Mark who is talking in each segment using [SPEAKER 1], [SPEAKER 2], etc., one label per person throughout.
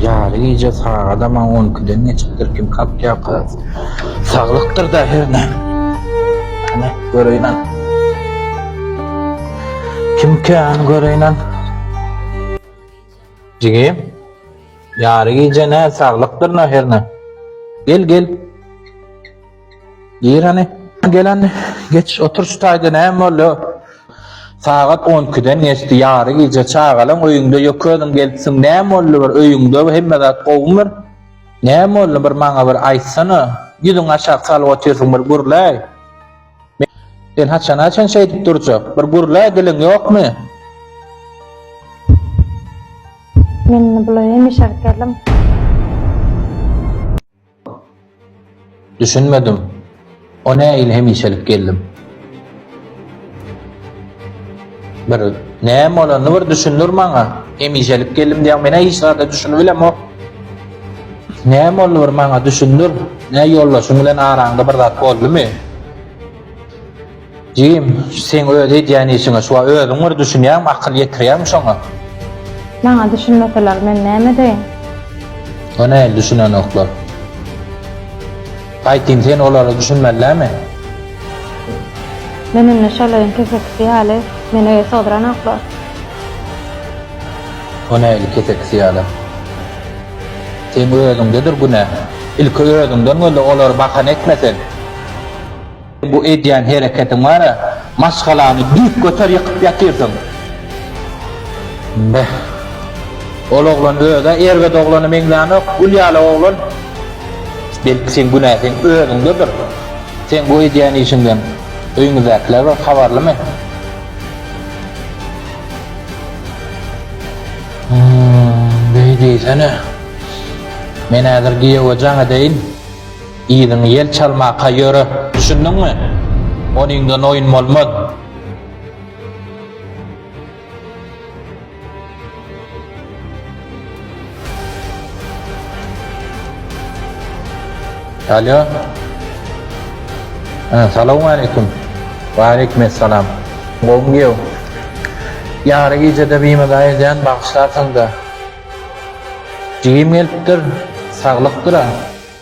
[SPEAKER 1] Ýary gije sagadam on ikiden geçipdir, kim kakýarka? Saglykdyr-da hernä. Hany, göreýin-ä. Kimkä, hany göreýin-ä. Jigim, ýary gije nä, saglykdyr-da hernä. Gel, gel. Gir hany. Gelen geç otur şu taýda näme boldy? Sagat 12-den geçdi, ýary gije çagalaň öýüňde ýok özüň gelipsiň, näme boldy bir öýüňde hemme zat gowumyr? Näme boldy bir maňa bir aýtsana, ýüzüňi aşak salyp otyrsyň bir gürläý. Sen haçana çen şeýdip durjak, bir gürläý diliň ýokmy? Men bulaýam işe gidip geldim. Düşünmedim. O näil hemişelik geldim. Bir näme bolanyny bir düşündir maňa. Hemişelik geldim diýen menä hiç zada düşünip bilemok. Näme boldy bir maňa düşündir. Nä ýoldaşyň bilen araňda bir zat boldumy? Jim, seň öz edýän işiňe şuwa özüň bir düşünýäňmi, akyl ýetirýäňmi şoňa? Maňa düşünmeseler men näme edeýin? Ýöne heniz düşünenoklar. Aýtyn, sen olara düşünmelidämi? Men indi şolaryň kesekisi ýaly, meni öýe sygdyranoklar. O nähili kesekisi ýaly? Seň özüňdedir günä. Ilki özüňden göz-le, olary bahana etme sen. Bu edýän hereketiň bara maşgalany düýp göter ýykyp ýatyrsyň. Beh. Ol oglan özä erbet oglana meňzänok, gül ýaly oglan. Belki seň günäsiň özüňdedir. Seň bu edýän işiňden öýüňizdäkiler bir habarlymy? Hum, beý diýsene. Men häzir giýewe jaň edeýin. Yzyňy ýel çalmaka ýöre, düşündiňmi? Onyňdan oýun bolmaz. Alýo. Ä, salawmaleýkim. Waleýkim essalam. Gowmy giýew? Ýary gijede bimada edýän, bagyşlarsyň-da. Jigim gelipdir. Saglyk-dyr-a.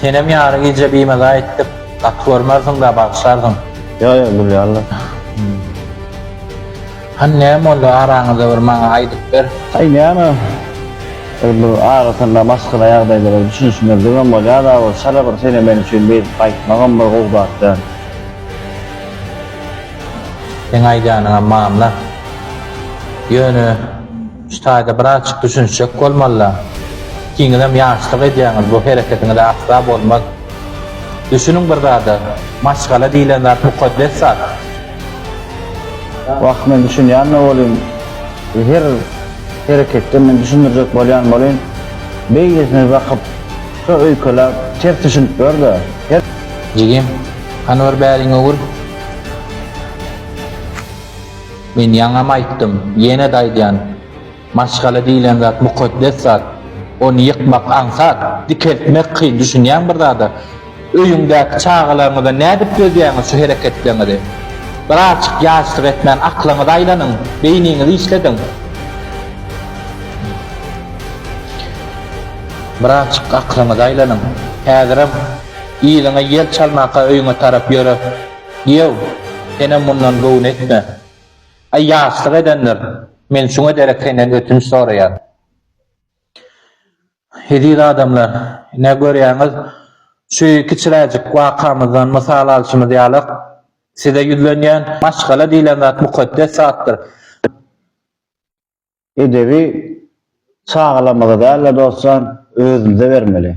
[SPEAKER 1] Senem ýary gije bimaza etdik gaty görmersiňda bagyşlarsyň. Ýok ýok gülýärler. Hany näme boldy araňyzda bir maňa aýdyp ber. Aý näme bir bir arasynda maşgala ýagdaýlara düşünişmezligem bolýada bir çala bir sene men üçin bezip gaýtmagam bir gowy zat däl. Seň aýdanyňam mamla. Ýöne. Şu taýda birazjyk düşünişjek bolmalylar. Ikiňizem ýaşlyk edýäňiz, bu hereketiňiz asla bolmaz. Düşüniň bir zada, maşgala diýlen zat mukaddes zat. Wah, men düşünýän-de bolyn, her hereketde men düşündirjek bolýan bolyn. Beýlesine bakyp, şo öýkeläp, ters düşünip gör-de, her. Jigim, hany bir bäriňi ur. Men ýaňam aýtdym, ýene-de aýdýan, maşgala diýlen zat mukaddes zat. Ony ýykmak aňsat, dikeltmek kyn, düşünýäňmi bir zada? Öýüňdäki çagalaryňyza nädip dözýäňiz şu hereketleriňize? Bir azjyk ýaşlyk etmän aklyňyzy aýlanyň, beýniňizi işlediň. Bir azjyk aklyňyzy aýlanyň. Häzirem yzyňa ýel çalmaka öýüňe tarap ýöre. Ýew, senem mundan göwün etme. Aý, ýaşlyk edendir, men şuň ederek senden ötünç soraýan. Eziz adamlar, ine, görýäňiz, şu kiçiräjik wakamyzdan mysal alşymyz ýaly, size ýüzlenýän, maşgala diýlen zat mukaddes zatdyr. Edebi çagalarymyza däl-de, dostlar, özümize bermeli.